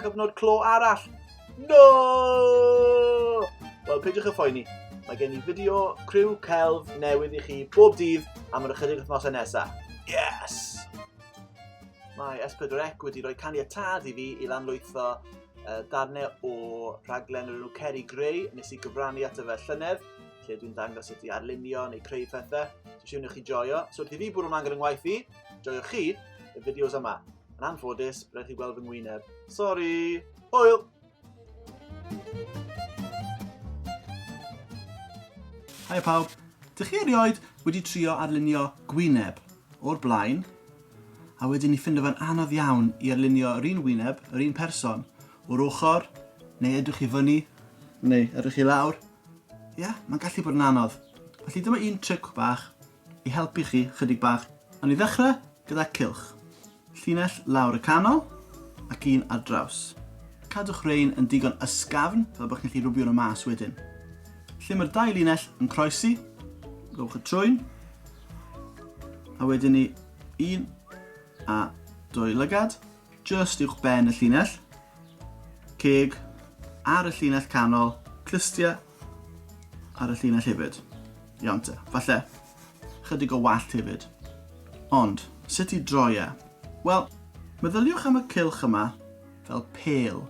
Cyfnod clo arall. No! Wel, peidiwch y phoeni. Mae gen i fideo criw celf newydd i chi bob dydd am yr ychydig wythnosau nesaf. Yes! Mae S4C wedi rhoi caniatad i fi i lanlwytho uh, darnau o rhaglen yr enw Ceri Grey nes i gyfrannu at y fe llynedd lle dwi'n dangos sut i arlunio neu creu pethau. Dwi'n siŵr chi joio. So wrth i fi bwrw mlaen gyda'n ngwaith i, joio chi y fideos yma. Yn anffodus, rhaid chi gweld fy ngwyneb. Sori! Hwyl! Hi pawb, dych chi erioed wedi trio arlunio gwyneb o'r blaen a wedyn ni ffindo fe'n anodd iawn i arlunio yr un wyneb, yr un person, o'r ochr, neu edrych i fyny, neu edrych i lawr. Ie, yeah, mae'n gallu bod yn anodd. Felly dyma un tric bach i helpu chi chydig bach. Awn ni ddechrau gyda cylch. Llinell lawr y canol ac un ar draws. Cadwch rhein yn digon ysgafn fel bod chi'n gallu rwbio nhw mas wedyn. Lle mae'r dau linell yn croesi, rhowch y trwyn, a wedyn ni un a dwy lygad, just uwch ben y llinell, ceg ar y llinell canol, clustia Ar y llinell hefyd. Iawn te. Falle, chydig o wallt hefyd. Ond, sut i droi e? Wel, meddyliwch am y cylch yma fel pêl,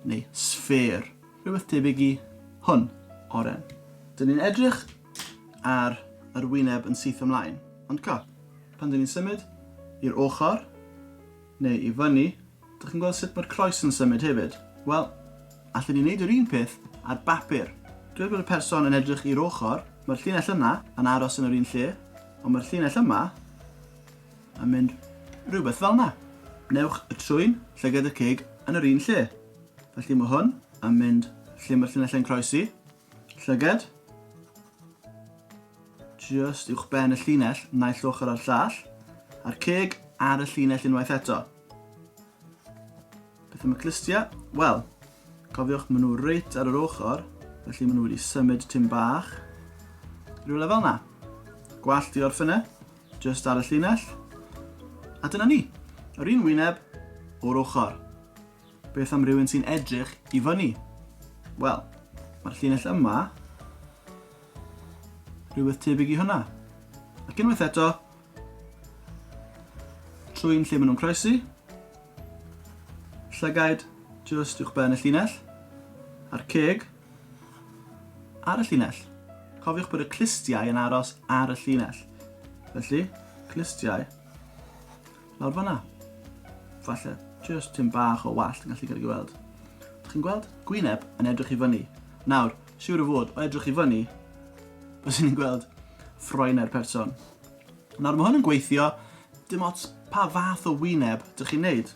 neu sffêr, rhywbeth tebyg i hwn, oren. Dyn ni'n edrych ar yr wyneb yn syth ymlaen, ond co, pan dyn ni'n symud i'r ochr, Neu i fyny, dych chi'n gweld sut mae'r croes yn symud hefyd? Wel, allen ni wneud yr un peth ar bapur. Dweud bod y person yn edrych i'r ochr, mae'r llinell yna yn aros yn yr un lle, ond mae'r llinell yma yn mynd rhywbeth fel yna. Newch y trwyn, llygad y cig yn yr un lle. Felly mae hwn yn mynd lle mae'r llinellau yn croesi. Llyged. Just uwch ben y llinell, naill ochr ar llall. A'r ceg ar y llinell unwaith eto. Beth am y clystiau? Wel, cofiwch maen nhw reit ar yr ochr, felly maen nhw wedi symud tim bach. Rhyw lefel na. Gwallt i orffene, just ar y llinell. A dyna ni. Yr un wyneb o'r ochr. Beth am rywun sy'n edrych i fyny? Wel, mae'r llinell yma rhywbeth tebyg i hwnna. Ac unwaith eto, trwy'n lle maen nhw'n croesi, llygaid just uwch ben y llinell, a'r ceg ar y llinell. Cofiwch bod y clustiau yn aros ar y llinell. Felly, clustiau Lawr fanna. Falle, just tym bach o wallt yn gallu cael ei gweld. Dych chi'n gweld? Gwyneb yn edrych i fyny. Nawr, siwr o fod, o edrych i fyny, bys ni'n gweld ffroen ar person. Nawr, mae hwn yn gweithio, dim ots pa fath o wyneb dych chi'n neud.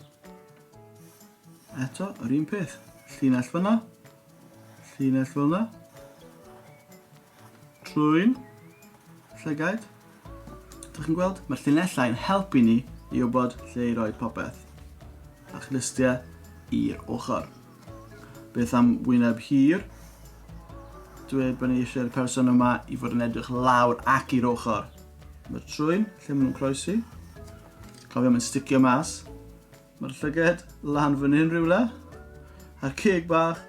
Eto, yr un peth. Llinell fyna, llinell fyna, Trwy'n llygaid. Dych chi'n gweld? Mae'r llinellau yn helpu ni i wybod lle i roi popeth. A chlystiau i'r ochr. Beth am wyneb hir? Dweud bod ni eisiau'r person yma i fod yn edrych lawr ac i'r ochr. Mae'r trwyn, lle maen nhw'n croesi. Cofio, mae'n sticio mas. Mae'r llyged lan fan hyn rhywle. A'r ceg bach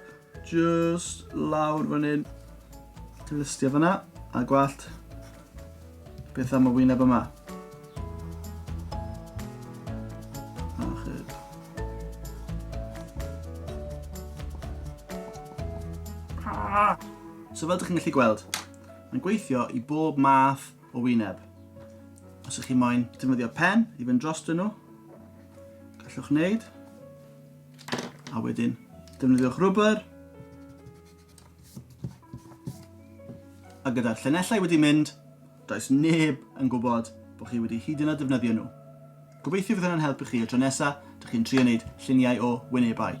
just lawr fan hyn. Listio fyna. A gwallt. Beth am y wyneb yma? So fel ydych chi'n gallu gweld, mae'n gweithio i bob math o wyneb. Os ych chi moyn defnyddio pen i fynd dros dyn nhw, gallwch wneud. A wedyn, defnyddiwch rwber. A gyda'r llenellau wedi mynd, does neb yn gwybod bod chi wedi hyd yn oed defnyddio nhw. Gobeithio fydd hwnna'n helpu chi y tro nesaf, dych chi'n trio wneud lluniau o wynebau.